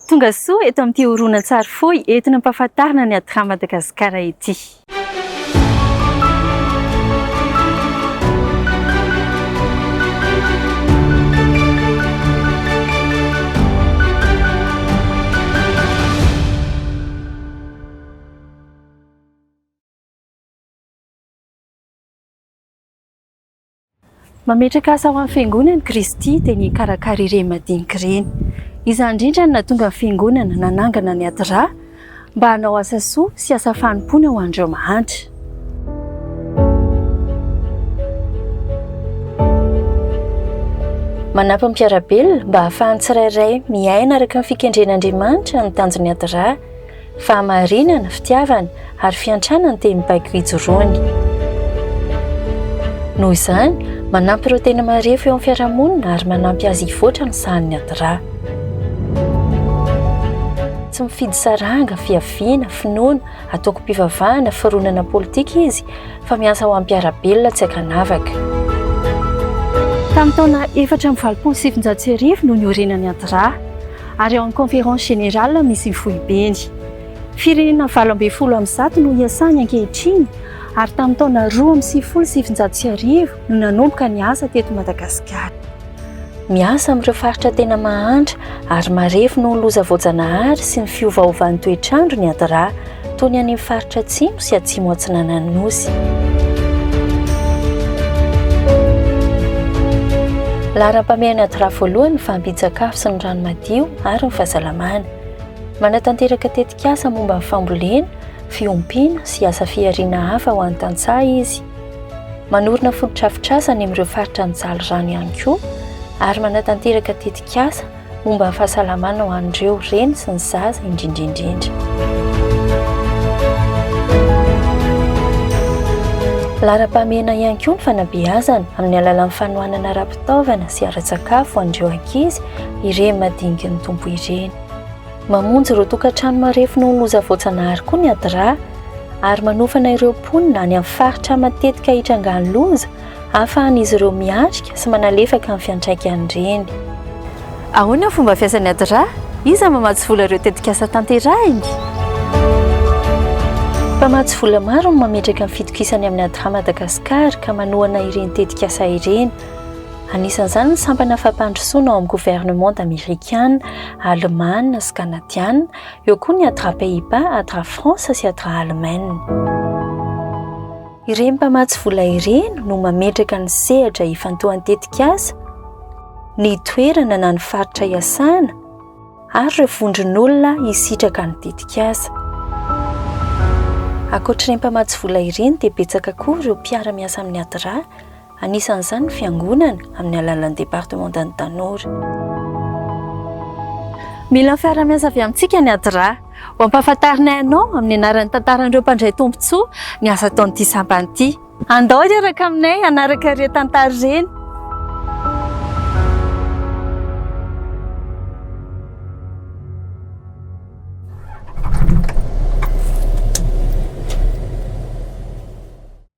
Tonga soa eto amin'ity horonantsary fohy entina ampahafantarina ny Adram Madagasikara ity. Mametraka asa ho an'ny Fiangonana i Kristy dia ny hikarakara ireny madinika ireny. Izany indrindra no nahatonga ny Fiangonana nanangana ny Adra mba hanao asa soa sy asa fanompoana ho an'ireo mahantra. Manampy ny mpiara-belona mba hahafahan'ny tsirairay miaina araka ny fikendren'Andriamanitra ny tanjon'ny Adra. Fahamarinana, fitiavana, ary fiantrana ny teny mibaiko ijoroany. Noho izany, manampy ireo tena marefo eo amin'ny fiarahamonina ary manampy azy hivoatra ny sahan'ny adra. Tsy mifidy saranga, fiaviana, finoana, antokom-pivavahana, fironana politika izy, fa miasa ho amim-piara-belona tsy ankanavaka. Tamin'ny taona efatra amby valopolo sy sivinjato sy arivo no niorenan'ny adra. ary ao amin'ny Conférence Générale misy ny Foibeny. Firenena valo ambin'ny folo amby zato no iasany ankehitriny ary tamin'ny taona roa amby sivifolo sy sivinjato sy arivo no nanomboka ny asa teto Madagasikara. Miasa amin'ireo faritra tena mahantra ary marefo noho ny loza voajanahary sy ny fiovaovan'ny toetr'andro ny ADRA. toy ny any amin'ny faritra atsimo sy atsimo atsinanan'ny nosy. Laharam-pahamehana ady ra voalohany ny fahampian-tsakafo sy ny rano madio ary ny fahasalamana. Manatanteraka tetikasa momba ny fambolena, fiompiana sy asa fihariana hafa ho an'ny tantsaha izy. Manorina fotodrafitrasa any amin'ireo faritra nijaly rano ihany koa ary manatanteraka tetikasa Momba ny fahasalamana ho an'ireo reny sy ny zaza indrindra indrindra. Laharam-pahamehana ihany koa ny fanabeazana amin'ny alalan'ny fanohanana ara-pitaovana sy ara-tsakafo ho an'ireo ankizy ireny madiniky ny Tompo ireny. Mamonjy ireo tokantrano marefo noho ny loza voajanahary koa ny ADRA ary manofana ireo mponina any amin'ny faritra matetika itrangan'ny loza ahafahan'izy ireo miatrika sy manalefaka ny fiantraikan'ireny. Ahoana ny fomba fiasan'ny ADRA? Iza no mamatsy vola ireo tetikasa tanterahiny? Mpamatsy vola maro no mametraka ny fitokisany amin'ny ADRA Madagascar ka manohana ireny tetikasa ireny. Anisan'izany ny sampana fampandrosoana ao amin'ny governemanta amerikana, alemàna sy kanadiana, eo koa ny ADRA Pays-Bas, ADRA France sy ADRA Allemagne. Ireny mpamatsy vola ireny no mametraka ny sehatra ifantohan-tetikasa, ny toerana na ny faritra iasana ary ireo vondron'olona hisitraka ny tetikasa. Ankoatr'ireny mpamatsy vola ireny dia betsaka koa ireo mpiara-miasa amin'ny ADRA, anisan'izany ny fiangonana amin'ny alalan'ny Departemantan'ny Tanora. Mila ny fiaraha-miasa avy amintsika ny ADRA. Ho ampahafantarinay anao amin'ny anaran'ny tantaran'ireo mpandray tombontsoa ny asa ataon'ity sampana ity. Andao hiaraka aminay hanaraka ireny tantara ireny.